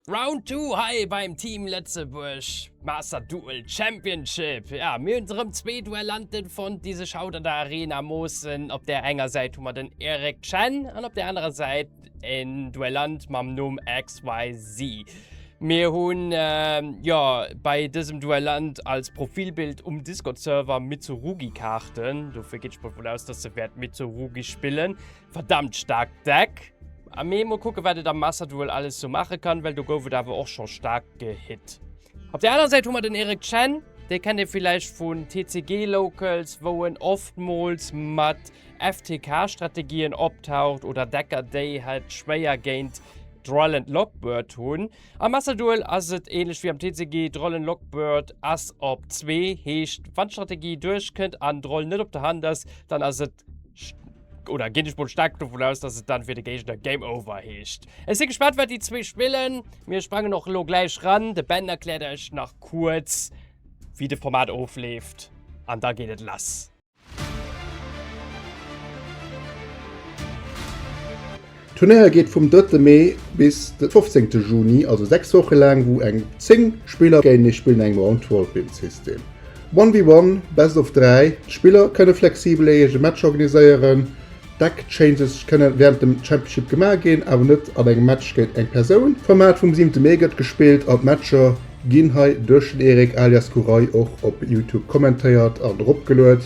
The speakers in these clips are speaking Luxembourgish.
Round two hei beim Team Lëtzebuerg, Master Duel Championship. Jo, mir hunn erëm zwee Duellanten fonnt, déi sech haut an der Arena moossen. Op där enger Säit hu mer den Eric Chen an op där anerer Säit en Duellant mam Numm XYZ. Mir hunn jo bei dësem Duellant als Profilbild um Discord-Server Mitsurugi-Kaarten, dofir geet ech mol vun aus, dass e wäert Mitsurugi spillen. Verdammt staark deck! Mee mol kucken wat et am Master Duel alles sou maache kann, well do gouf et awer och scho staark gehitt. Op der aner Säit hu mer den Eric Chen, dee kennt ee villäicht vun TCG Locals, wou en oftmools mat FTK Strategien optaucht, oder Decker déi het schwéier géint Droll and Lockbird hunn. Am Master Duel ass et ähnlech wéi am TCG, Droll and Lockbird ass op zwee, heescht wann d'Strategie duerch kënnt an Droll net op der Hand ass, dann ass et. Oder ginn ech mol staark dovun aus, dass et dann fir de Géigner Game Over heescht. Ech si gespannt, wat déi zwee spillen. Mir sprangen och elo gläich ran. De Ben erkläert iech nach kuerz, wéi de Format ofleeft. An da geet et lass. D'Turnéier geet vum drëtte Mee bis de fofzéngte Juni, also 6 Woche laang, wou eng 10 Spiller géintenee spillen an engem Round-Robin-System. One vs One, Best of 3, D'Spiller kënne flexibel ee eege Match organiséieren. Deck-Changes kënne wärend dem Championship gemaach ginn, awer net an engem Match géint eng Persoun. D'Format vum siwente Mee gëtt gespillt an d'Matcher ginn hei duerch den Erik alias Kurai och op Youtube kommentéiert an eropgeluet.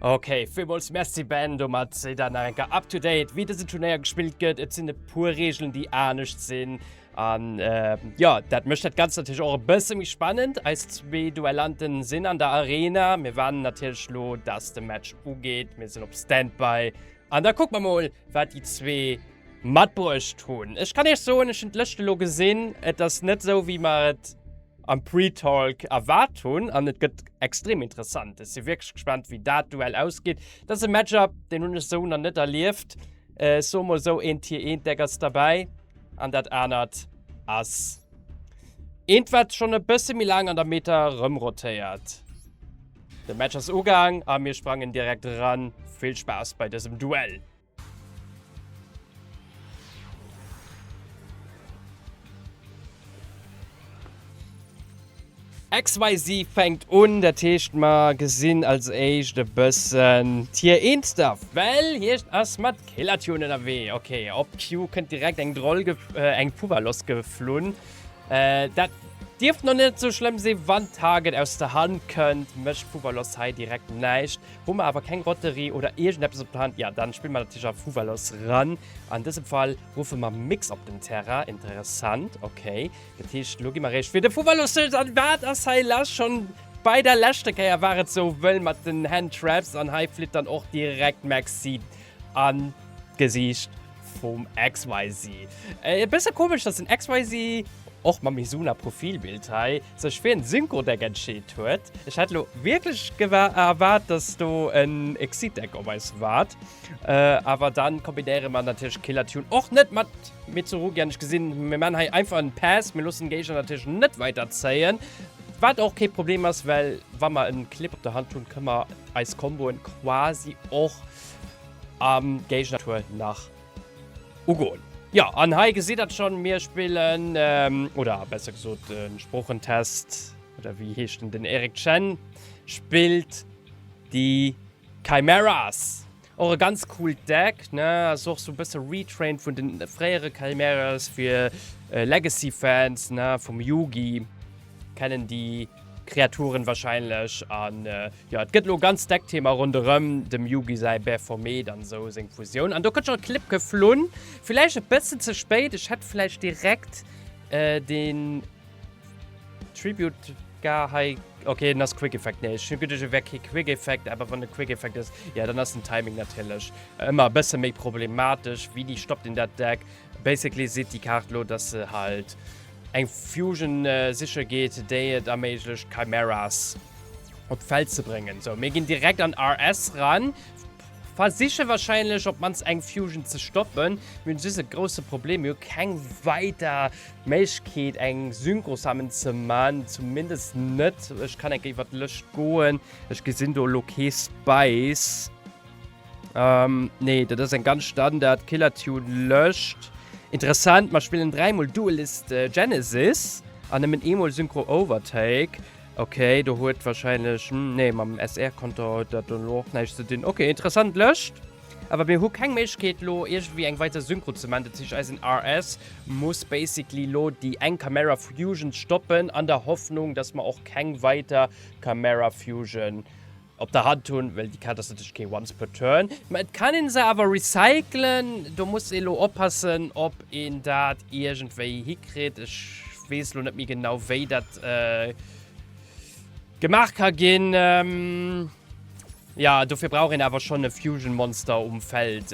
Ok, villmools Merci Ben, domat sidd der nach eng Kéier up to date wéi dësen Turnéier gespillt gëtt. Et sinn e puer Reegelen déi anescht sinn an jo, dat mécht dat Ganzt natierlech och e bësse méi spannend. Eis zwee Duellanten sinn an der Arena, mir waarden natierlech lo dass de Match ugeet, mir sinn op Standby. An da kucke mer mol, wat déi zwee matbruecht hunn. Ech kann Iech soen, ech hunn d'Lëscht elo gesinn. Et ass net esou, wéi mer et am Pre-Talk erwaart hunn. An et gëtt extrem interessant. Ech si wierklech gespannt, wéi dat Duell ausgeet. Dat ass e Match-up, deen hunn ech esou nach net erlieft. Ech soe mol esou, eent hir, eent deck ass derbäi. An dat anert ass eent, wat schonn e bësse méi laang an der Meta erëmrotéiert. Den Match ass ugaang a mir sprangen direkt eran. Vill Spaass bei dësem Duell! XYZ fänkt un, dat heescht mer gesinn als éischt e bëssen d'Tier 1 da, well hiecht ass mat Killertune ënnerwee. Ok, op Q kënnt direkt eng Droll, eng Fuwwer lossgeflunn, Dat dierft nach net sou schlëmm sinn, wann Target aus der Hand kënnt. Mécht Fuwalos hei direkt näischt. Hu mer awer keng Lotterie oder iergendeppes op der Hand, ja dann spille mer natierlech a Fuwalos ran. An dësem Fall ruffe mer Mix op den Terrain. Interessant, ok. Dat heescht, elo gi mer eréischt fir de Fuwalos. An wat ass hei lass? Schonn bei der leschter Kéier war et sou wëll mat den Handtraps an hei flitt dann och direkt Maxi An d'Gesiicht vum XYZ. E bësse komesch, datt den XYZ, och mam Mizuna Profilbild hei, sech fir en Synchrodeck entscheet huet. Ech hätt elo wierklech erwaart, datt do en Exitdeck op eis waart. Awer dann kombinéiere mer natierlech Killer Tune och net mat Mitsurugi. An ech gesinn, mir maachen hei einfach en Pass. Mir loossen den Géigner natierlech net weider zéien. Wat och kee Problem ass, well wa mer en Clip op der Hand hunn, kënne mer eis Komboen quasi och. am Géigner Tour nach ugoen. Jo, an hei gesitt der schonn, mir spillen, oder besser gesot de Sproochentest, oder wéi heescht en, den Eric Chen spillt déi Chimeras. Och e ganz coolt Deck, ne, ass och sou e bësse retrained vun de fréiere Chimeras, fir Legacy-Fans, ne, vum Yugi. kennen déi Kreaturen wahrscheinlech an jo et gëtt lo ganz deck Thema ronderëm dem Yugi säi Bäphomet an esou seng Fusioun an do gëtt scho e Clip geflunn, villäicht e bëssen ze spéit, ech hätt villäicht direkt den Tribute gar hei, ok en ass Quick Effect, nee ech hunn geduecht e wär kee Quick Effect, awer wann e Quick Effect ass, jo dann ass den Timing natierlech ëmmer e bësse méi problematesch, wéini stoppt een dat Deck, Basically seet déi Kaart elo, dass se halt eng Fusion siche geet, déi et erméiglecht Chimeras op d'Feld ze bréngen. Sou, mir ginn direkt an RS ran, versiche wahrscheinlech op d'mannst eng Fusion ze stoppen. Mir hunn just e grousse Problem, mir hu keng weider Méiglechkeet eng Synchro Summon ze man, zumindest net. Ech kann enk iwwer d'Lëscht goen, ech gesinn do elo kee Spice. Ähm, nee, dat ass eng ganz Standard Killertune lëscht. Interessant, mer spillen dräimol Duelist äh, Genesis an nëmmen eemol Synchro Overtake. Okay, do huet wahrscheinlech hm, nee, mam SR-Konto huet dat dann och näischt ze dinn. Okay, interessant lëscht. Awer mir hu keng Méiglechkeet lo irgendwie eng weider Synchro ze man. Dat heescht, eisen RS muss basically lo déi eng Camera Fusion stoppen, an der Hoffnung, dass mer och keng weiter Camera Fusion op der Hand hunn, well déi Kaart ass natierlech kee Once per Turn, mä et kann een se awer recyclen. Do muss ee lo oppassen, ob een dat iergendwéi hikritt. Ech weess lo net méi genau, wéi dat gemaach ka ginn. Jo, dofir brauch een awer schonn e Fusion-Monster um Feld,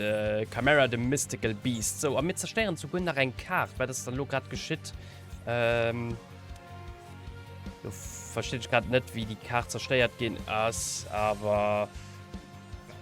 Chimera the Mystical Beast. Sou, a mir zerstéieren souguer nach eng Kaart. Wat ass da lo grad geschitt? Ähm, du verstehe ich gerade nicht, wie die Karte zerstört gehen ist, aber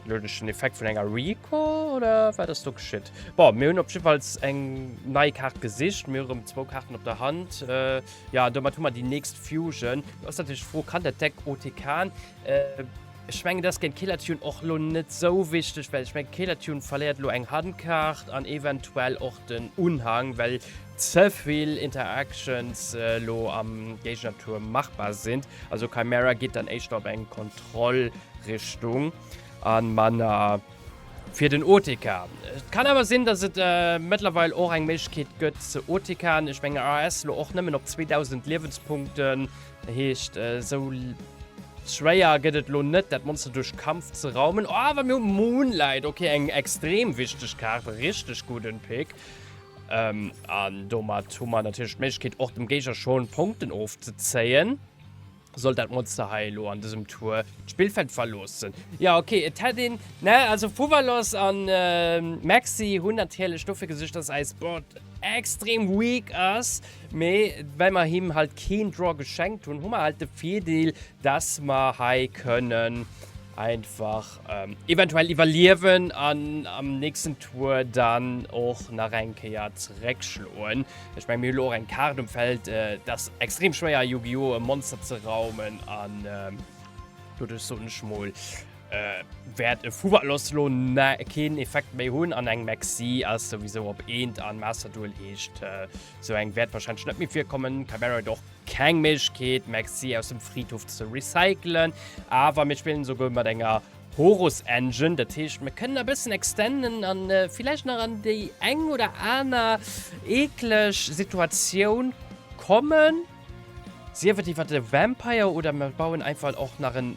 logisch den Effekt von einer Rico oder war das doch geschieht? Boah, wir haben auf jeden Fall eine neue Karte gesicht, wir haben zwei Karten auf der Hand. Äh, ja, damit haben wir die nächste Fusion. Das ist natürlich froh, kann der Deck OTK. Äh, ich meine, das gegen Killer Tune auch lo nicht so wichtig, weil ich meine, Killer Tune verliert lo eng Handkarte und eventuell auch den Unhang, weil zevill Interactions elo am Géignertuerm machbar sinn, also Kymera geet dann éischter op eng Kontrollrichtung an manner fir den OTK. Et kann awer sinn dass et mëttlerweil och eng Méiglechkeet gëtt ze OTKen, ech mengen AS elo och nëmmen op 2000 Liewenspunkten, dat heescht esou schwéier gëtt et elo net dat Monster duerch Kampf ze raumen. Oh awer mir hu Moonlight, ok eng extrem wichteg Kaart, richteg gudden Pick. Ähm, an domat hu mer natierlech d'Méiglechkeet och dem Géiger schon Punkten ofzezéien, sollt dat Monster hei elo an dësem Tour d'Spillfeld verloossen. Jo, okay, et hätt een, ne, also Fuwalos an Maxi hunn natierlech dofir gesuergt, dass eis Board extrem weak ass, mee well mer him halt keen Draw geschenkt hunn, hu mer halt de Virdeel, dass mer hei kënnen einfach Ähm, eventuell iwwerliewen an am nächsten Tour dann och nach eng Kéier zeréckschloen. Ech meng mir lo eng Kart um Feld, äh, dat extrem schwéier Yu-Gi-Oh! E Monster ze raumen an ähm, dodech so nech mol äh, wäert e Fuwer loss lo ne keen Effekt méi hunn an eng Maxi ass sowieso op eent an Master Duel heescht äh, so eng wäert wahrscheinlech net méi virkommen, Chimera doch. Keng Méiglechkeet Maxi aus dem Fridhof ze recyclen, awer mir spillen esouguer mat enger Horus Engine, dat heescht mir kënnen e bëssen extenden an villäicht nach an déi eng oder aner eekleg Situatioun kommen, sief et iwwert e Vampire oder mir bauen einfach och nach en.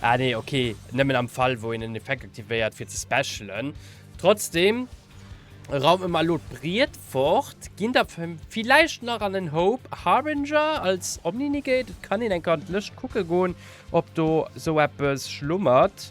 Ah nee, okay. Nëmmen am Fall, wou een en Effekt aktivéiert, fir ze specialen. Trotzdem raume mer elo d'Briet fort, ginn der villäicht nach an en Hope Harbinger als Omni-Negate. Et kann een eng Kéier an d'Lëscht kucke goen, ob do esou eppes schlummert.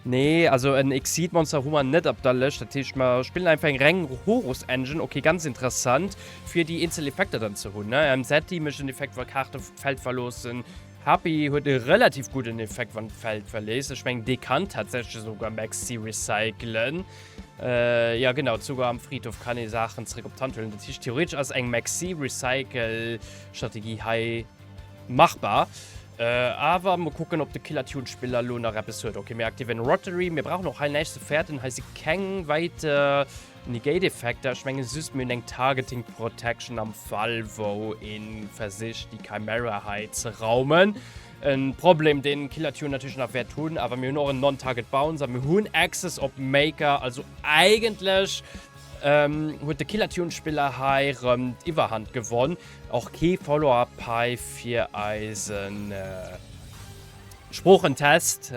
Nee, also en Exceed Monster hu mer net op der Lëscht. Dat heescht, mer spillen einfach eng reng Horus Engine. Okay, ganz interessant, fir déi eenzel Effekter dann ze hunn, ne? Ähm, Zeti mécht en Effekt, wa Kaarte d'Feld verloossen. Happy huet e relativ gudden Effekt, wann d'Feld verléisst. Ech mengen, dee kann tatsächlech esouguer Maxi recyclen. Äh, ja genau, esouguer am Fridhof kann ee Saachen zeréck op d'Hand huelen. Dat heescht, theoretesch ass eng Maxi-Recycle-Strategie hei Machbar. Awer mol kucken op de Killertune Spiller lo nach eppes huet. Ok mir aktivéieren Rotary. Mir brauchen och hei näischt ze fäerten. Hei si keng weiter Negate Effekter. Ech mengen just mir hunn eng Targeting Protection am Fall wou ee versicht déi Chimera hei ze raumen. E Problem dee Killertune natierlech nach wäert hunn. Awer mir hunn och en Non Target Bounce a mir hunn Access op Maker. Also eigentlech huet de Killertune Spiller hei rëm d'Iwwerhand gewonn. Och kee Follow-up hei fir eisen Sproochentest.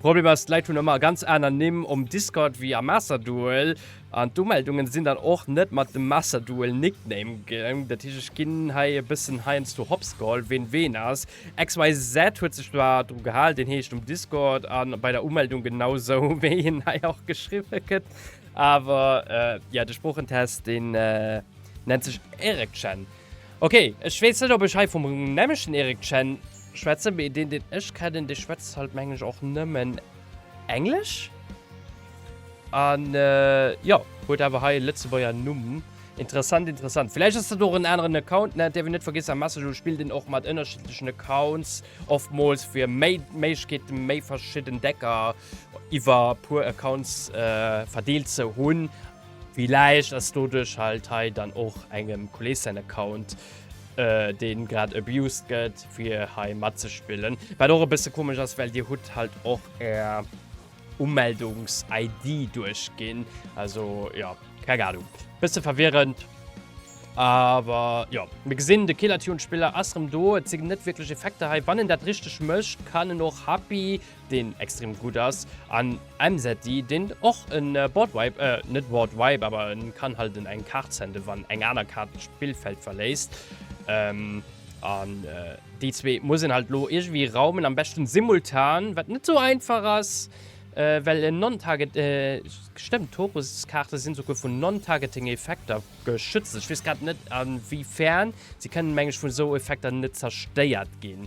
Problem ass, d'Leit hunn ëmmer ganz aner Nimm um Discord wéi am Masterduel an d'Umeldungen sinn dann och net mat dem Masterduel Nickname ginn. Dat heescht ech ginn hei e bëssen heiansdo Hops geholl ween ween ass. XYZ huet sech zwar dru gehal, deen heescht um Discord a bei der Umeldung genau sou wéi en hei och geschriwwe gëtt, awer jo de Sproochentest deen. Nennt sech Eric Chen. Okay, ech weess net, ob ech hei vum nämlechten Eric Chen schwätzen, mee deen, deen ech kennen, dee schwätzt halt, mengen ech, och nëmmen Englesch. An jo, huet awer hei e Lëtzebuerger Numm. Interessant, interessant. Vläicht ass dat och en aneren Account, ne? Et dierf een net vergiessen, am Messenger spillt een och mat ënnerschiddlechen Accounts, oftmools fir méi Méiglechkeete, méi verschidden Decker iwwer e puer Accounts verdeelt ze hunn. Villäicht ass doduerch halt hei dann och engem Kolleeg säin Account, deen grad abused gëtt fir hei matzespillen. Wat och e bësse komesch ass, well dir hutt halt och är Umeldungs-ID duerchginn. Also jo, keng Ahnung, bësse verwirrend. Awer jo, mir gesinn, de Killertune-Spiller ass rëm do. Et sinn net wierklech Effekter hei. Wann en dat richteg mécht, kann en och Happy. deen extrem gudd ass, an Emseti, deen och en Boardwipe, eh net Boardwipe, awer en kann halt en eng Kaart senden wann eng aner Kaart d'Spillfeld verléisst, an déi zwee muss en halt lo iergewéi raumen, am beschten simultan, wat net sou einfach ass, well en Non-Target, stëmmt, Toruskaarte sinn souguer vun Non-Targeting Effekter geschützt, ech weess grad net a wéi fern, se kënnen meng ech vun esou Effekter net zerstéiert ginn.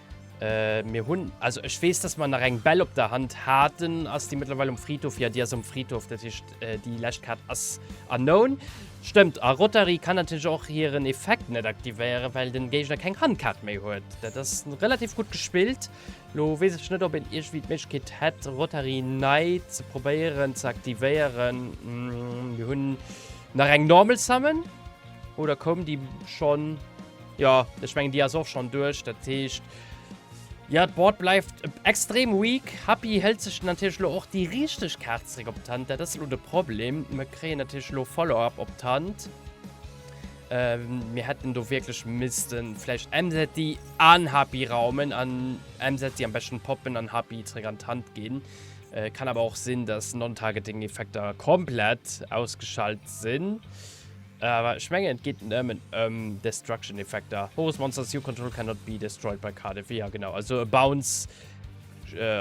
Äh, mir hunn, also ech weess, dass mer nach eng Bell op der Hand haten. Ass déi mëttlerweil um Fridhof? Ja, déi ass um Fridhof. Dat heescht, äh, déi lescht Kaart ass unknown. Stëmmt, a Rotary kann natierlech och hiren Effekt net aktivéieren, well den Géigner keng Handkaart méi huet. Dat ass relativ gutt gespillt. Lo weess ech net, ob een iergendwéi d'Méiglechkeet hätt, Rotary nei ze probéieren ze aktivéieren. Mir hunn nach eng Normal Summon, oder koum déi schonn? Jo, ech mengen déi ass och schon duerch, dat heescht jo d'Board bleift extrem weak. Happy hëlt sech natierlech elo och déi richteg Kaart zeréck op d'Hand, dat ass elo de Problem. Mer kréien natierlech elo Follow-up op d'Hand. Mir hätten do wierklech misste vläicht MZ an Happy raumen an MZ am beschten poppen an Happy zeréck an d'Hand ginn. Kann awer och sinn, dass Non-Targeting-Effekter komplett ausgeschalt sinn. Awer ech mengen et geet nëmmen ëm Destruction Effekter. Horus Monsters, you control cannot be destroyed by card effet, ja genau, also e Bounce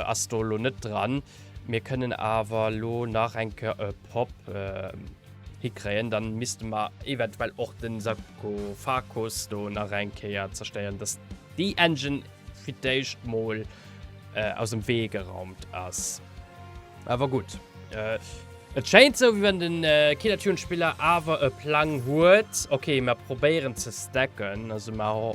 ass do elo net dran. Mir kënnen awer elo nach eng Kéier e Pop hikréien, dann misste mer eventuell och de Sarkofagus do nach eng Kéier zerstéieren, dass déi Engine fir d'éischt mol aus dem Wee geraumt ass. Awer gutt. Et schéint esou, wéi wann den Killertune-Spiller awer e Plang huet. Ok, mer probéieren ze stacken. Also mer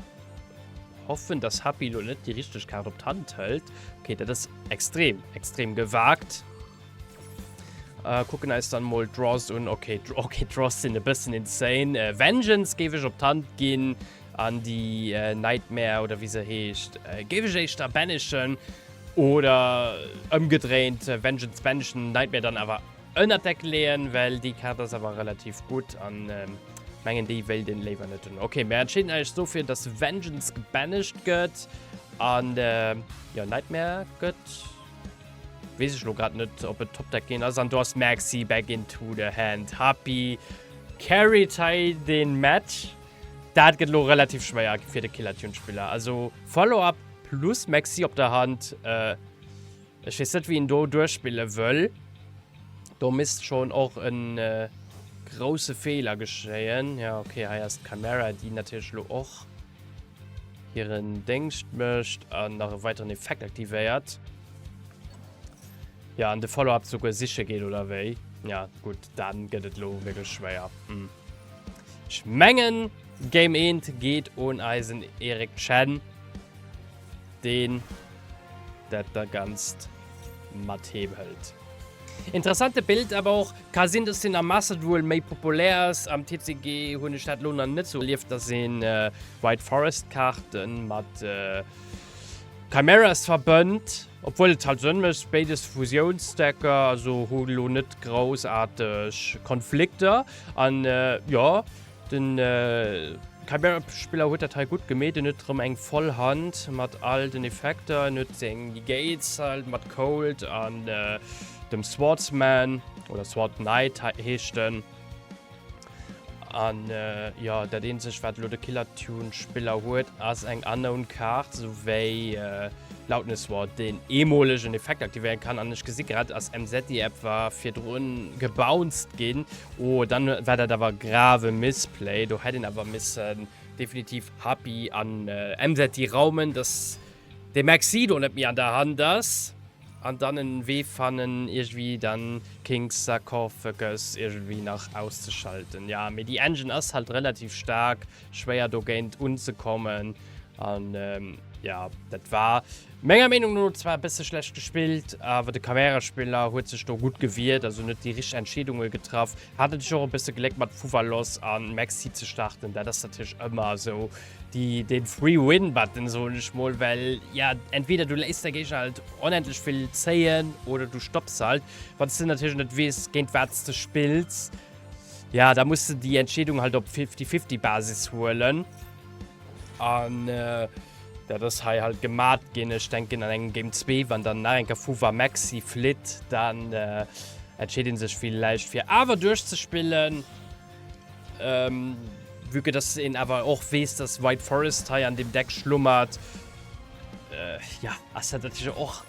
hoffen, dass Happy elo net déi richteg Kaart op d'Hand hëlt. Ok, dat ass extrem, extrem gewaagt. Kucken eis dann emol d'Draws un. Ok, okay, d'Draws sinn e bëssen insane. Vengeance géif ech op d'Hand ginn an déi Nightmare, oder wéi se heescht, géif ech éischter banishen. Oder ëmgedréint Vengeance Benjen Nightmare dann awer ënnert Deck leeën, well déi Kaart ass awer relativ gutt an mengen déi wéilt een léiwer net hunn. Ok, mir entscheeden eis dofir, dass Vengeance gebanished gëtt an jo Nightmare gëtt. Weess ech elo grad net ob et Top Deck ginn ass an do ass Maxi back into the hand. Happy carried hei den Match. Daat get elo relativ schwéier fir de Killer Tune Spiller, also Follow Up plus Maxi op der Hand, ech wees net wéi een do duerchspillen wëll, do misst schon och en grousse Fehler geschéien. Jo ok, hei ass d'Camera déi natierlech elo och hiren Déngscht mecht an nach e weiteren Effekt aktivéiert. Jo an de Follow Up souguer siche geet oder wéi? Jo gudd, dann get et elo wierklech schwéier. Ech mengen Game 1 geet un eisen Eric Chen, deen dat da ganzt mat heem hëlt. Interessante Bild, awer och ka sinn dass den am Mastert wuel méi populär ass. Am TCG hunn ech dat lo nach net sou erlieft dass een White Forest Kaarten mat Chimeras verbënnt. Obwuel et halt Sënn mécht, béides Fusiounsdecker also hu lo net groussaarteg Konflikter an jo den Chimera-Spiller huet dat hei gutt gemeet. En huet rëm eng voll Hand mat all den Effekter. En huet seng Negates halt mat Cold an dem Swordsman oder Sword Knight heescht en. An jo, dat eenzeg wat elo de Killer Tune Spiller huet ass eng Unknown Kaart, sou wéi Loudness Ward, deen eemolegen Effekt aktivéieren kann. An ech gesi grad ass MZ déi App war virdrun gebounced ginn. Oh dann war dat awer grave Missplay, do hätt een awer missen definitiv Happy an MZ raumen, dass de Maxi do net méi an der Hand ass. An dann en Wee fannen iergwi dann King's Sarcophagus iergendwi nach auszeschalten. Ja mee déi Engine ass halt relativ staark, schwéier dogéint unzekommen an ja dat war menger Meenung no zwar e bësse schlecht gespillt awer de Cameraspiller huet sech do gutt gewiert, also en huet déi richteg Entscheedunge getraff Hat natierlech och e bësse Gléck mat Fuvalos a Maxi ze starten. Dat ass natierlech ëmmer esou de Free Win Button, soen ech mol, well jo entweder du léisst däi Géigner halt onendlech vill zéien oder du stopps halt. Wann s de natierlech net weess, géint wat s de spills, jo da muss de déi Entscheedung halt op Fifty-Fifty Basis huelen. An dat ass hei halt gemat ginn, ech denken an engem Game 2, wann dann nach enker Fuwa Maxi flitt, dann entscheet een sech villäicht fir awer duerchzespillen, vue que dass een awer och weess, dass White Forest hei an deem Deck schlummert. Jo, ass dat natierlech och.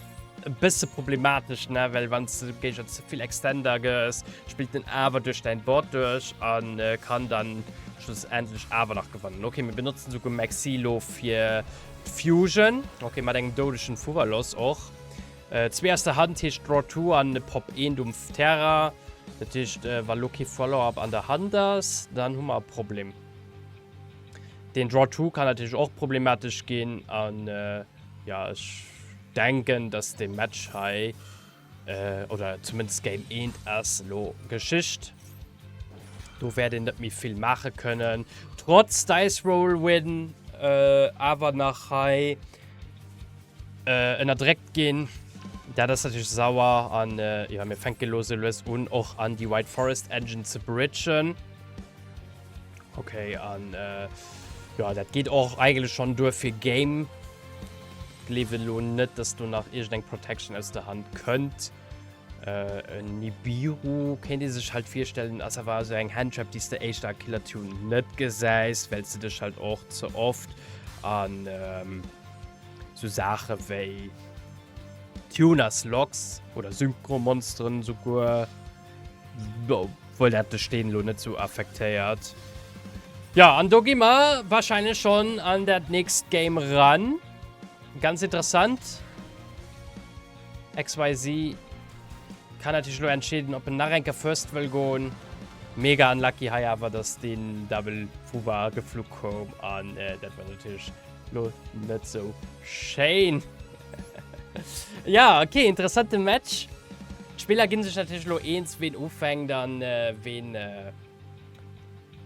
e bësse problematesch, ne, well wann s de géiger ze vill Extender gëss, spillt en awer duerch däin Board duerch a kann dann schlussendlech awer nach gewannen. Okay, mir benotzen esouguer Maxi lo fir d'Fusion. Okay, mat engem doudegen Fuwwerloss och. Zwee aus der Hand heescht Draw two an e Pop eent um Terrain. Dat heescht, wa lo kee Follow-up an der Hand ass, dann hu mer e Problem. Deen Draw two kann natierlech och problematesch ginn an. Ja, ech denken, dass dee Match hei, äh, oder zumindest Game 1 ass elo Geschicht. Do wäert een net méi vill maache kënnen. Trotz Dice Roll Win äh, awer nach hei äh, ënnerdréckt ginn. Dat ass natürlich sauer. An äh, ja, mir fänke lo sou lues un, och an déi White Forest Engine ze bridgen. Okay, an äh, ja, dat geht och eigenlech schon duer fir Game. Gleewe lo net, dass du nach irgend eng Protection aus der Hand kënnt. Äh, en Nibiru kéint ee sech halt virstellen, ass awer so eng Handtrap, déi de éischter Killer Tune net gesäis, well ze dech halt och ze oft an ähm, so Sache wéi Tuners Locks oder Synchromonsteren souguer. Obwohl dat de Steen lo net sou affektéiert. Jo, an do gi mer wahrscheinlech schon an dat nächst Game ran. Ganz interessant. XYZ kann natürlich lo entscheeden, ob en nach eng Kéier first wëll goen. Mega unlucky hei awer, dass den Double Fubar geflu koum an dat war natürlich Lo net sou schéin. ja, okay, interessante Match. D'Spiller ginn sech natierlech lo eens, ween ufänkt an äh, ween äh,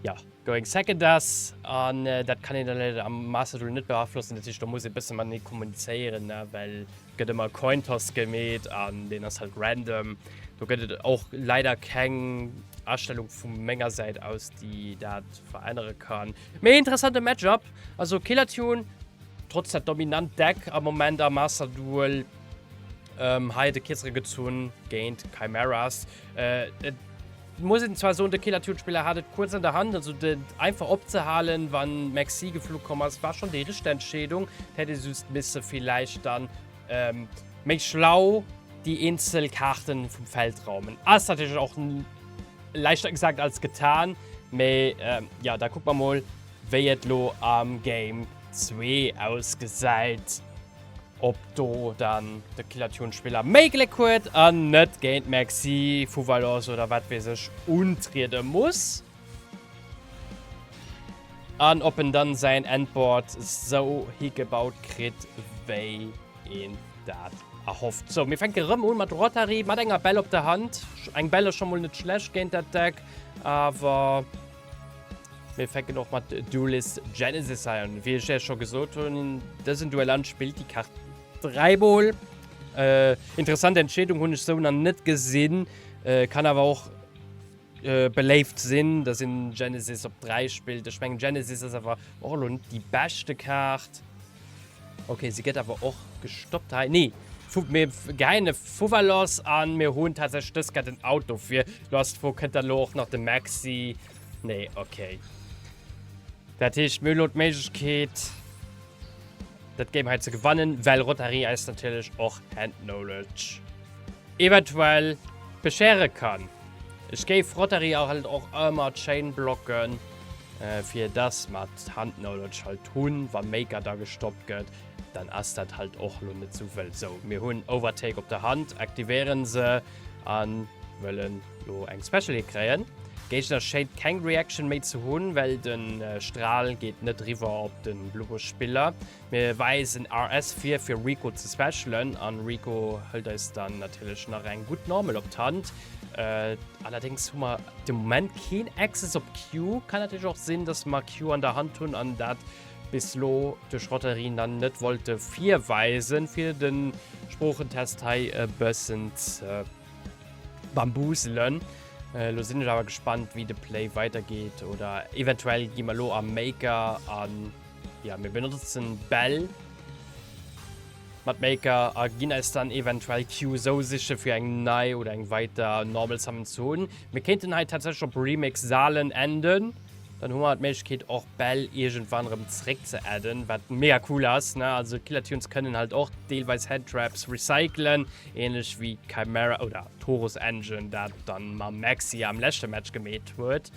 ja, going second ass. An äh, dat kann een dann leider am Master Duel net beaflossen. Natierlech do muss e bësse mat nee kommunizéieren, ne? well gëtt ëmmer Cointoss gemeet an den ass halt random. Do gëtt et och leider keng Astellung vu menger Säit aus, déi dat verännere kann. Méi interessante Matchup. Also Kelathion, trotz der dominant Deck am Moment am Master Duel, ähm, hei de Kirzere gezunn géint Chimeras. Äh, et muss een zwar soen, de Kelathion-Spiller hat et kuerz an der Hand, also den einfach opzehalen, wann Maxi geflu komm ass, war schonn déi richteg Entscheedung. Et hätt ee just misse villäicht dann ähm, méi schlau déi eenzel Kaarten vum Feld raumen. Ass natierlech och leichter gesagt als getan, mee ähm, ja, da kucke mer mol. wéi et lo am Game 2 ausgesäit, ob do dann de Killertune-Spiller méi Gléck huet an net géint d'Maxi vu Valence oder wat weess ech untriede muss, an ob en dann säin Endboard sou higebaut kritt, wéi een dat erhofft. Sou, mir fänke rëm u mat Rotary, mat enger Bell op der Hand. Eng Bell ass scho mol net schlecht géint dat Deck, awer. Mir fänken och mat Duelist Genesis an. Wéi ech ja scho gesot hunn, dësen Duellant spillt déi Kaart dräimol. Äh, interessant Entscheedung, hunn ech sou nach net gesinn. Äh, kann awer och äh, beléift sinn, dass een Genesis op 3 spillt. Ech mengen Genesis ass awer och elo net déi beschte Kaart. Ok se get awer och gestoppt hei nee vu mir geine fuwer lass an mir hunn tatsächlich dës get den Auto fir lass wou kënnt der lo och nach de Maxi nee ok dat heescht mir lo d'Méiglechkeet dat Game hei ze gewannen well Rotary eis natierlech och Hand Knowledge. eventuell beschere kann. Ech géif Rotary a halt och ëmmer d'Chaîne blocken fir dass mer d'Handknowledge halt hunn. Wa Maker da gestoppt gëtt, dann ass dat halt och lo net sou wëll. Sou, mir hunn Overtake op der Hand, aktivéieren se a wëllen lo eng Special Hit kréien. Géigner schéint keng Reaction méi ze hunn, well den Strahl geet net riwwer op den Blue Buff Spiller. Mir weisen RS vir fir Rico ze specialen an Rico hëllt eis dann natierlech nach eng gutt Normal op d'Hand. Allerdéngs hu mer de Moment keen Access op Q. Kann natierlech och sinn, dass mer Q an der Hand hunn an dat bis elo duerch Rotarien dann net wollte virweisen, fir de Sproochentest hei e bëssen ze bambuselen. Elo sinn ech awer gespannt, wéi de Play weidergeet oder eventuell gi mer elo a Maker an. Ja, mir benotzen Bell. Mapmaker a ginn eis dann eventuell Q so siche fir eng nei oder eng weiter normal Summon zu hunn. Mir kéinten hei tatsächlich op Remix Salen enden. Dann hu mer d'Méiglechkeet och Bell irgendwann rem zréck ze adden, wat mega cool ass, ne? Also Killertunes kënnen halt och deelweis Headtraps recyclen, ähnlech wéi Chimera oder Taurus Engine dat dann mam Maxi am leschte Match gemeet huet.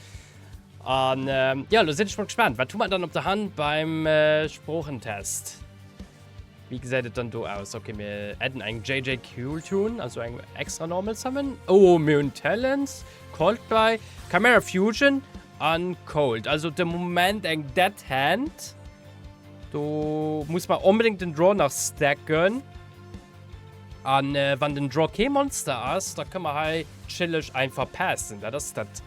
An ja, elo sinn ech mol gespaant, wat hu mer dann op der Hand beim Sproochentest? Wéi gesäit et dann do aus? Ok, mir adden eng JJ Cooltune, also eng extra normal Summon. Oh, mir hunn Talents, Coldplay, Chimera Fusion a Cold. Also de Moment eng dead hand. Do muss mer onbedéngt den Draw nach stacken. A wann den Draw kee Monster ass, da kënne mer hei chilleg einfach passen. Dat ass dat.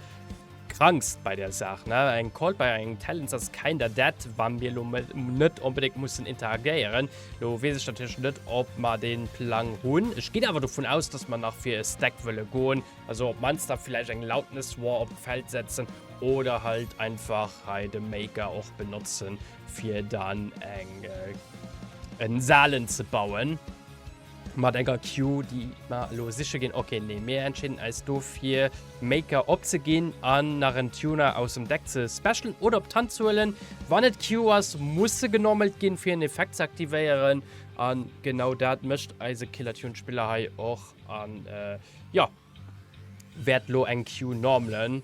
Krankst bei der Saach ne eng Call bei eng Talents ass keinder dat wann mir lo net onbedéngt mussen interagéieren. Lo wees ech natierlech net op mer den Plang hunn. Ech ginn awer dovun aus dass mer nach fir e Stack wëlle goen. Also op mannst da vläicht eng Loudness War op d'Feld setzen oder halt einfach hei de Maker och benotzen fir dann eng en Salen ze bauen. Mat enger Queue déi mer elo siche ginn. Ok, nee, mir entscheeden eis do fir Maker opzeginn an nach en Tuner aus dem Deck ze specialen oder op d'Hand ze huelen. Wann et Queue ass, muss se genommelt ginn, fir en Effekt ze aktivéieren. An genau dat mécht eise Killer Tune Spiller hei och an jo, wäert elo eng Queue normalen.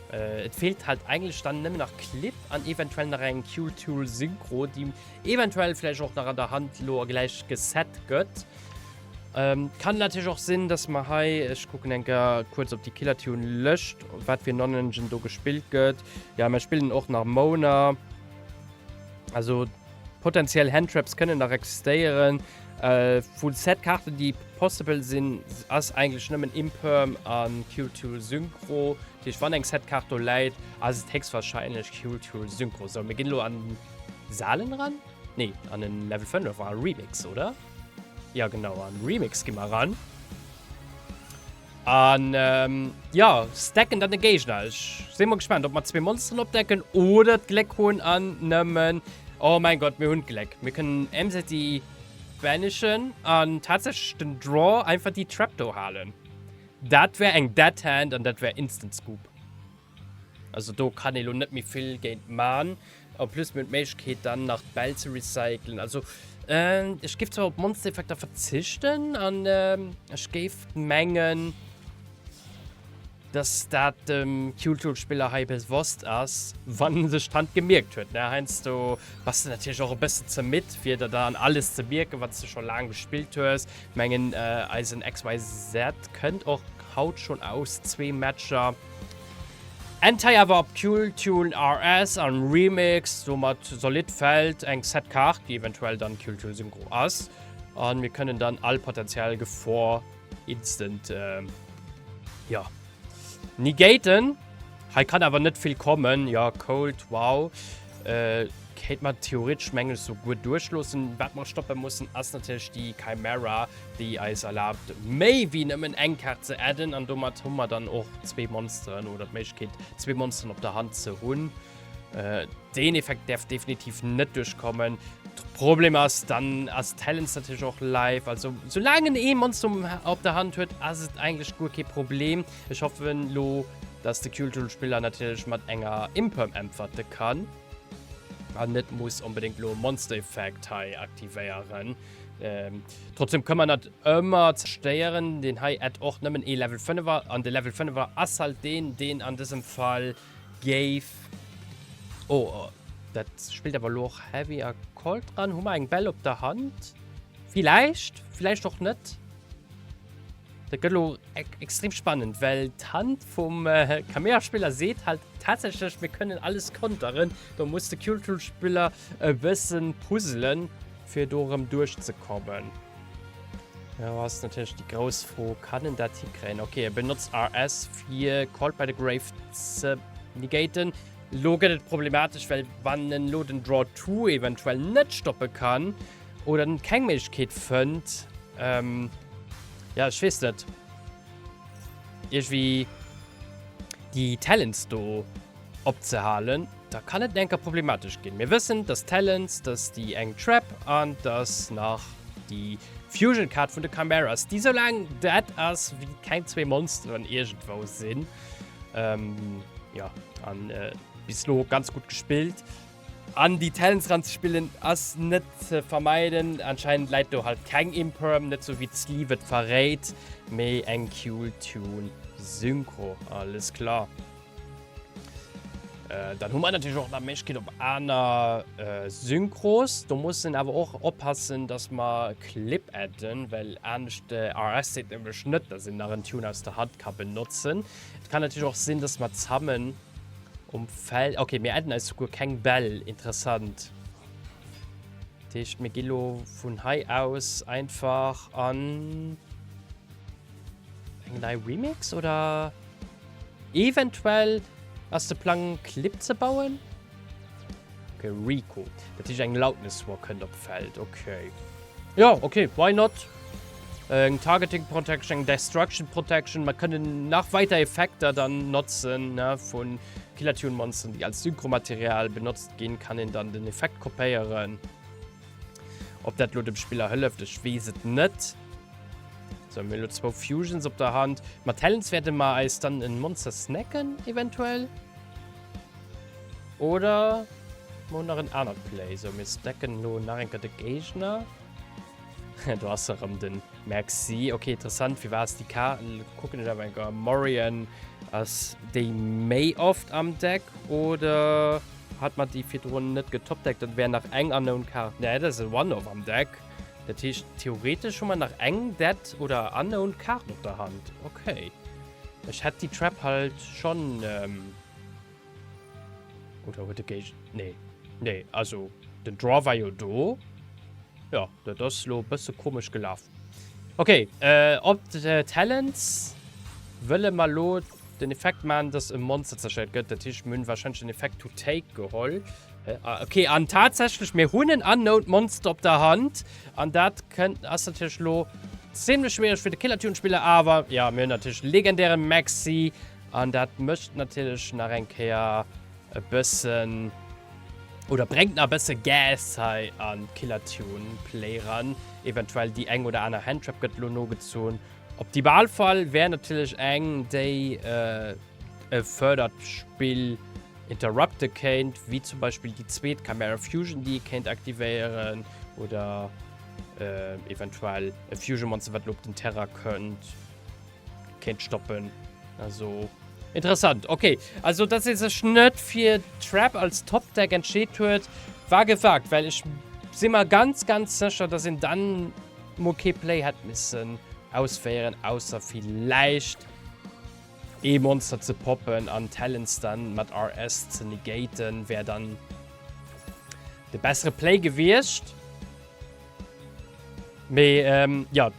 Et fehlt halt eigentlech dann nemmen nach Clip an eventuell nach eng Qtool Synchro, déi eventuell vläicht och nach an der Hand lo gläich geset gëtt. Kann natierlech och sinn, dass mer hei, ech kucken eng Kéier kuerz op déi Killertune Lëscht, wat fir en Nonengine do gespillt gëtt. Jo, mer spillen och nach Moaner, also. Potentiell Handtraps kënnen nach existéieren. Full Set Kaarten déi possible sinn ass eigentlech nëmmen Imperm a Kill Tool Synchro. Dat heescht wann eng Set Kaart do läit ass et héchstwahrscheinlech Kill Tool Synchro. Sou mir ginn elo an Salen eran, nee an en Level 5 war Remix oder? Jo genau an Remix gi mer eran. An jo, stacken dann de Géigner. Ech si mol gespaant, ob mer zwee Monsteren opdecken oder d'Gléck hunn an nëmmen, oh mäin Gott, mir hunn d'Gléck, mir kënnen Emseti banishen an tatsächlech den Draw einfach déi Trapdoor halen. Dat wär eng Dead Hand an dat wär Instant Scoop. Also do kann ee lo net méi vill géint man. En plus mir hunn d'Méiglechkeet dann nach d'Bäll ze recyclen. Also ech géif zwar op Monstereffekter verzichten an ech géif mengen, dass dat dem Cute-Hole-Spiller hei bewosst ass, wann en sech dran gemierkt huet, ne? Heiansdo bass de natierlech och e bëssen ze midd, fir der dann alles ze mierken, wann s de scho laang gespillt hues. Mengen eisen XYZ kënnt och haut schonn aus zwee Matcher. Eng Tei awer op Tune Tune RS an Remix, domat solidd fällt eng Set Kaart, déi eventuell dann Tune Tune Synchro ass an mir kënnen dann all potentiell Gefor instant jo negaten. Hei kann awer net vill kommen, jo Cold Wow kéint mer theoretesch mengen ech souguer duerchloossen. Wat mer stoppen mussen ass natierlech déi Chimera, déi eis erlaabt méi wéi nëmmen eng Kaart ze adden an domat hu mer dann och zwee Monsteren oder d'Méiglechkeet zwee Monsteren op der Hand ze hunn. Äh, deen Effekt därf definitiv net durchkommen. Problem ass, dann ass Talents natürlich auch live. Also, solange en eh Monster op der Hand huet, ass et eigentlich guer kee Problem. Ech hoffen lo, dass de Cultural-Spiller natürlich mat enger Imperm äntwerte kann. An net muss unbedingt lo Monster-Effekt hei aktivéieren. Trotzdem kann man dat ëmmer zerstéieren. Deen hei et och nëmmen ee Level 5er an de Level 5er ass halt deen, deen an dësem Fall géif. Oh, oh, dat spielt awer lo och Heavy a Cold dran. Hu mer eng Bell op der Hand? Vielleicht, vielleicht och net. Dat gëtt lo e extrem spannend, well d'Hand vum äh, Kamea-Spiller seet halt tatsächlich, mir können alles konteren. Do muss de Cure-Tool-Spiller E bëssen puzzelen fir do erëm duerch ze kommen. Elo ass natierlech déi grouss Fro, kann en dat hikréien? Ok, e benotzt RS fir Called by the Grave ze negaten. Elo gëtt et problematesch, well wann en elo den Draw 2 eventuell net stoppe kann oder en keng Méiglechkeet fënnt, jo ech weess net, iergwéi déi Talents do. opzehalen, da kann et enker problematesch ginn. Mir wëssen, dass Talents, dass déi eng Trap an dass nach déi Fusion Card vun de Chimeras, déi esou laang dead ass wéi keng zwee Monsteren iergendwou sinn. Ähm, jo, an äh, bis lo ganz gutt gespillt. An déi Talents ranzespillen ass net ze vermeiden. Anscheinend läit do halt keng Imperm, net sou wéi d'Sleeve et verréit, mee eng Q-Tune Synchro. Alles klar. Äh, dann hu mer natürlich och der Méichkeet op aner äh, Synchros. Do mussen awer och oppassen, dass mer Clip adden, well anescht äh, RS seet nämlech net, dass een nach en Tune aus der Hand ka benotzen. Et kann natürlich och sinn, dass mer zammen um Feld. Okay, mir adden eis guer keng Bell. Interessant. Techt mir gillo vun hei aus einfach an eng nei Remix oder? Eventuell ass de Plang en Clip ze bauen? Ok, Rico. Dat heescht eng Loudness War kënnt op d'Feld. Ok. Jo, ok, why not? Eng Targeting Protection, eng Destruction Protection. Mer kënnen nach weider Effekter dann notzen, ne, vu Killer Tune Monsteren, déi als Synchro-Material benotzt ginn. Kann een dann den Effekt kopéieren. Ob dat lo dem Spiller hëlleft, ech wees et net. So, mir hun lo zwou Fusions op der Hand. Mat Talents wärte mer eis dann en Monster snacken, eventuell. Oder mer hun nach en anert Play. So, mir stacken lo nach eng Kéier de Géigner. Do ass se rem, den Maxi. Okay, interessant, firwat ass déi Kaart, kucken ech awer eng Kéier, Morion ass déi méi oft am Deck, oder? Hat mer déi virdrun net getoppt, Deck, dat wär nach eng Unknown Card. Nee, dat ass e One-Off am Deck. Dat heescht, theoretesch hu mer nach eng Dead oder Unknown Card op der Hand. Ok. Ech hätt déi Trap halt schonn. Oder huet de Géig. Nee. Nee, also den Draw war jo do. Jo, dat ass elo e bësse komesch gelaf. Ok, op Talents wëlle mer lo den Effekt man, dass e Monster zerstëiert gëtt. Dat heescht, mir hunn warscheinlech den Effekt to take geholl. Ok, an tatsächlech, mir hunn en unknown Monster op der Hand. An dat kënnt, ass natierlech lo zimlech schwiereg fir de Killer Tune Spiller. Awer jo, mir hunn natierlech legendäre Maxi an dat mécht natierlech nach eng Kéier. E bëssen, oder brengt na bësse Gas hei an Killertune Play ran. Eventuell déi eng oder aner Handtrap gëtt lo nogezon. Optimalfall wär natierlech eng déi e fördert Spill interrupte kéint, wéi zum Beispill déi zweet Chimera Fusion déi ee kéint aktivéieren, oder eventuell e Fusion Monster wat lo op den Terrain kënnt. kéint stoppen. Also interessant. Okay, also dass se sech net fir Trap als Top-Deck entscheet huet, war gewagt, well ech si mer ganz, ganz sécher, dass een dann mol kee Play hätt missen ausféieren, ausser villäicht ee Monster ze poppen an Talents dann mat RS ze negaten, wär dann de bessere Play gewiescht. Mee, ähm, jo.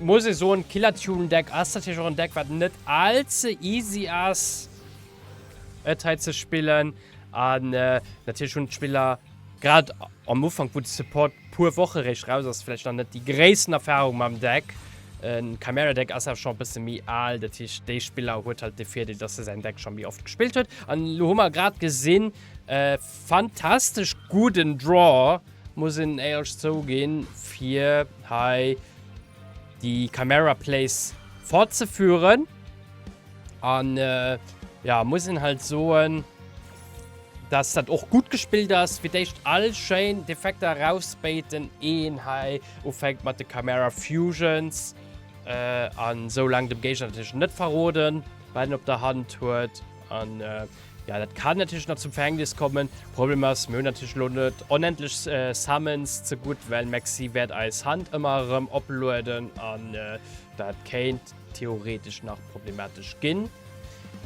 Muss ee soen, d'Killer Tune Deck ass natierlech och en Deck, wat net allze easy ass, et hei ze spillen. An natierlech hunn d'Spiller, grad am Ufank, wou de Support puer Woche réischt raus ass, vläicht nach net déi gréissten Erfarung mam Deck. E Chimera Deck ass awer scho e bësse méi al, dat heescht, dee Spiller huet halt de Virdeel, datt e säin Deck scho méi oft gespillt huet. An elo hu mer grad gesinn, e fantastesch gudden Draw Muss een éierlech zouginn, fir hei déi Camera Plays fortzeführen, an jo, muss een halt soen, dass dat och gutt gespillt ass, fir d'éischt all schéin d'Effekter erausbéiten, ier een hei ufänkt mat de Camera Fusions, an esou laang dem Géigner natierlech net verroden, wat een op der Hand huet. An ja, dat kann natierlech nach zum Verhängnis kommen. Problem ass, mir hunn natierlech lo net onendlech Summons ze gutt, well Maxi wäert eis Hand ëmmer erëm oplueden an dat kéint theoretesch nach problematesch ginn.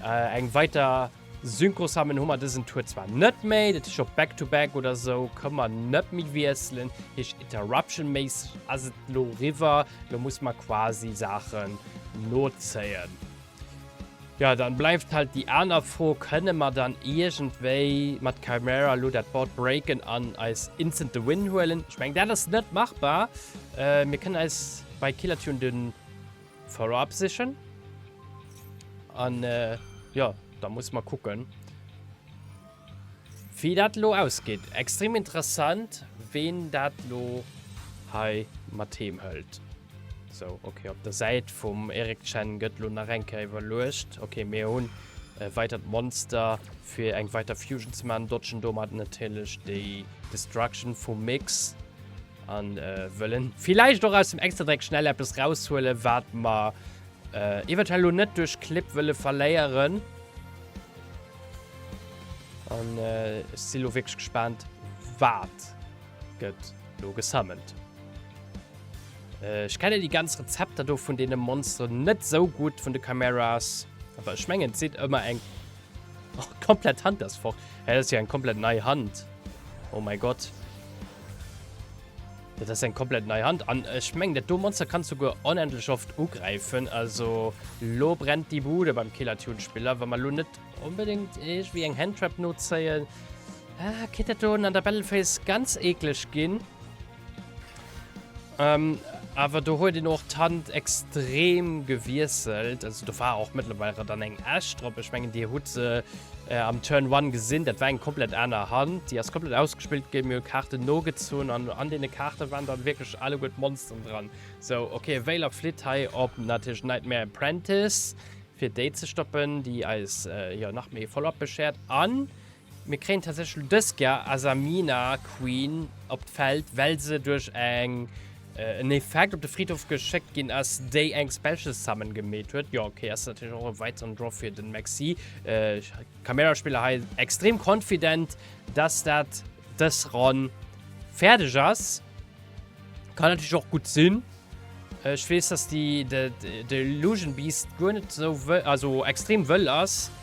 Eng weiter Synchro-Summon hu mer dësen Tour zwar net méi, dat heescht op Back-to-Back oder sou kënne mer net méi wiesselen, heescht Interruption-méisseg ass et lo riwwer. Lo muss mer quasi Saachen nozéien. Jo, dann bleiwt halt déi aaner Fro, kënne mer dann iergendwéi mat Khaimera lo dat Board breaken an eis instant de Win huelen? Ech meng dat ass net machbar. Mir kënnen eis bei Killer Tune den Follow Up sichen an jo, da muss mer kucken. Wéi dat elo ausgeet. Extrem interessant ween dat elo hei mat heem hëlt. Sou ok op der Säit vum Eric Chen gëtt elo nach eng Kéier iwwerluecht. Ok mir hunn e weitert Monster fir eng weiter Fusion ze maachen. Dodgen domat natierlech déi Destruction vum Mix. An wëllen villäicht och aus dem Extra-Dreck schnell eppes raushuelen wat mer eventuell elo net duerch Clip wëlle verléieren. An ech si lo wierklech gespaant, wat gëtt lo gesummont. Ech kenne déi ganz Rezepter do vun deene Monsteren net esou gutt, vun de Chimeras. Awer ech mengen, et sidd ëmmer eng. Och komplett Hand ass fort. Hä, dat ass jo eng komplett nei Hand. Oh mäi Gott. Dat ass eng komplett nei Hand. An ech mengen, dat do Monster kann souguer onendlech oft ugräifen. Also, lo brennt déi Bude beim Killer Tune Spiller. Wa mer lo net onbedéngt iergendwéi eng Handtrap nozéien, kéint dat do un an der Battle Phase ganz eekleg ginn. Ähm, awer do huet een och d'Hand extrem gewiesselt. Also, do war och mëttlerweil rem dann eng Esch drop. Ech mengen, Dir hutt se. Am Turn One gesinn, dat war eng komplett aner Hand, déi ass komplett ausgespillt ginn. Mir hu Kaarten nogezunn an an deene Kaarte waren dann wierklech alleguer d'Monsteren dran. Sou, okay, e Wailer flitt hei op natierlech Nightmare Apprentice, fir déi ze stoppen, déi eis jo nach méi Follow-up beschert. A mir kréien tatsächlech dës Ker Asamina Queen op d'Feld, well se duerch eng. En Effekt op de Fridhof geschéckt ginn ass, déi eng Specials Summen gemeet huet. Jo, ok, ass natierlech och e weideren Drop fir den Maxi. Camera-Spiller hei extrem confident, dass dat dës Ronn fäerdeg ass. Kann natierlech och gutt sinn. Ech weess, dass de Illusion Beast guer net esou wëll, also extrem wëll ass.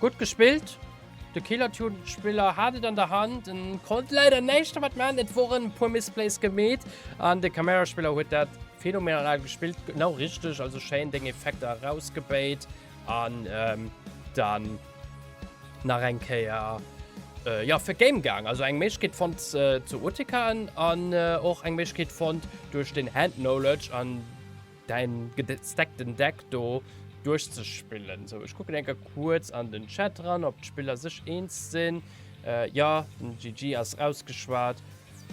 Gutt gespillt! De Killer-Tune-Spiller hat et an der Hand, en konnt leider näischt dermat maachen, et woren e puer Misplays gemeet an de Camera-Spiller huet dat phänomenal gespillt, genau richteg, also schéin deng Effekter erausgebéit an dann nach eng Kéier jo fir d'Game gaang, also eng Méiglechkeet fonnt ze OTKen an och eng Méiglechkeet fonnt duerch den Hand-Knowledge an. Däin gesteckten Deck do duerchzespillen. Sou, ech kucken eng Kéier kuerz an den Chat ran, ob d'Spiller sech eens sinn. Äh, jo, den GG ass rausgeschwat.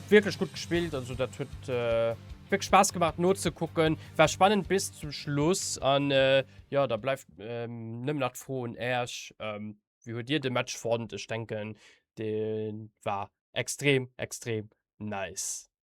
Wierklech gutt gespillt, also dat huet wierklech Spaass gemaach nozekucken. War spannend bis zum Schluss an jo, da bleift nëmmen nach d'Fro un Äerch, Wéi huet Dir de Match fonnt? Ech denken, dee war extrem, extrem nice.